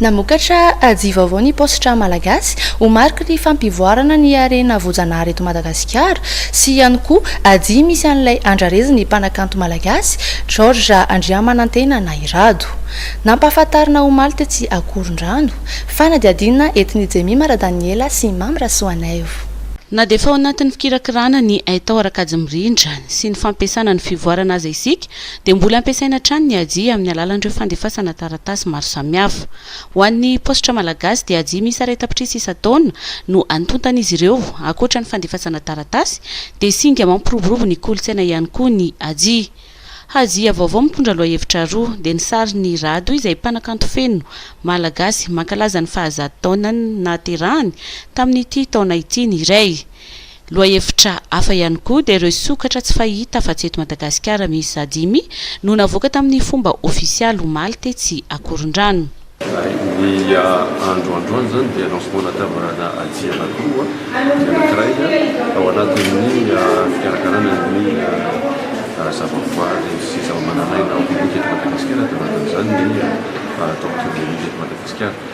Namokatra aji vaovao ny paositra malagasy ho mariky ny fampivoarana ny harena voajanahary eto Madagasikara sy ihany koa aji misy an'ilay andrarezin'ny mpanakanto malagasy George Andriamanantena Nahirado. Nampahafantarina omaly tetsy Ankorondrano. Fanadihadiana entin'i Jemima Radaniela sy Mamy Rasoanaivo. Na dia efa ao anatin'ny fikirakirana ny haitao ara-kajy mirindra sy ny fampiasana ny fivoarana aza isika dia mbola ampiasaina hatrany ny Haji amin'ny alalan'ireo fandefasana taratasy maro samihafa. Ho an'ny paositra malagasy dia Haji miisa iray tapitrisa isan-taona no antontan'izy ireo. Ankoatra ny fandefasana taratasy dia singa mampiroborobo ny kolontsaina ihany koa ny Haji. Haji vaovao mitondra lohahevitra roa, dia ny sarin'i Rado izay mpanakanto feno malagasy mankalaza ny fahazato taonany nahaterahany tamin'ity taona ity ny iray, Lohahevitra hafa ihany koa dia ireo sokatra tsy fahita afa-tsy eto Madagasikara miisa dimy no navoaka tamin'ny fomba ofisialy omaly tetsy Ankorondrano. Ny andro androany izany dia lancement natavarana atsy Alakoa ny anankiray ao anatin'ny fikarakarana ny zavaboary sy zavamananaina ao Bibika eto Madagasikara, dia anatin'izany ny Tortue Bébé eto Madagasikara.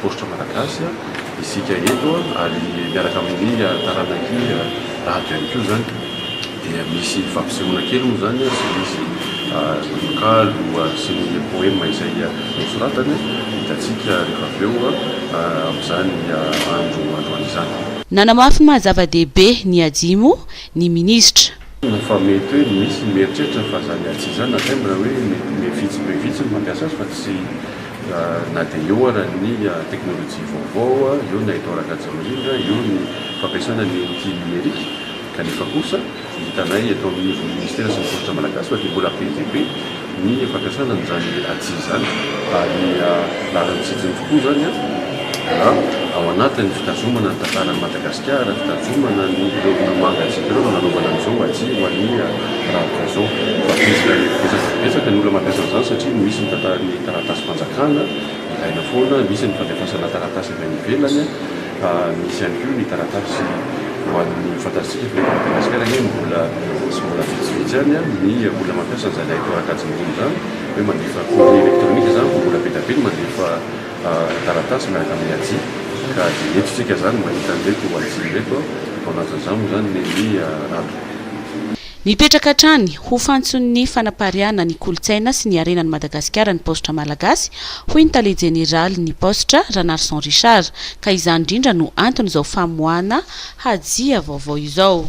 Paositra Malagasy isika eto ary miaraka amin'ny taranak'i Rado ihany koa izany dia misy fampisehoana kely moa izany sy misy tononkalo sy ny poema izay nosoratany hitantsika rehefa avy eo amin'izany andro androany izany. Nanamafy ny maha-zava-dehibe ny AJIMO ny minisitra. Marina fa mety hoe misy ny mieritreritra fa zany atsy izany na tena hoe be vitsy be vitsy no mampiasa azy fa tsy na dia eo ara ny teknolojia vaovao, eo na eto Ragajemariana, eo ny fampiasana ny outil numerique kanefa kosa hitanay eto amin'ny ministera sy ny soratra malagasy fa dia mbola be dia be ny fampiasana an'izany atsy izany ary laharan'ny tsijiny tokoa izany na ao anatin'ny fitazomana ny tantaran'i Madagasikara, fitazomana ny ireo mangatsiaka ireo no nanaovana an'izao atsy ho an'ny rahampitso izao. Betsaka dia betsaka ny olona mampiasa an'izany satria misy ny tantaran'ny taratasim-panjakana ilaina foana, misy ny fandefasana taratasy avy any ivelany. Fa misy ihany koa ny taratasy ho an'ny fantatsika fa eto Madagasikara anie mbola sy mbola vitsivitsy ihany ny olona mampiasa an'izany haitao ara-kajin'olona izany hoe mandefa courrier électronique izany vao mbola be dia be ny mandefa taratasy miaraka amin'ny aji ka dia eto isika izany mahita an'ireto aji ireto an, ao anatin'izany moa izany ny ny andro. Mipetraka hatrany ho fantson'ny fanapariahana ny kolontsaina sy ny harenan'i Madagasikara ny paositra malagasy, hoy ny tale jeneralin'ny paositra, Ranarison Richard, ka izany indrindra no anton'izao famoahana hajia vaovao izao.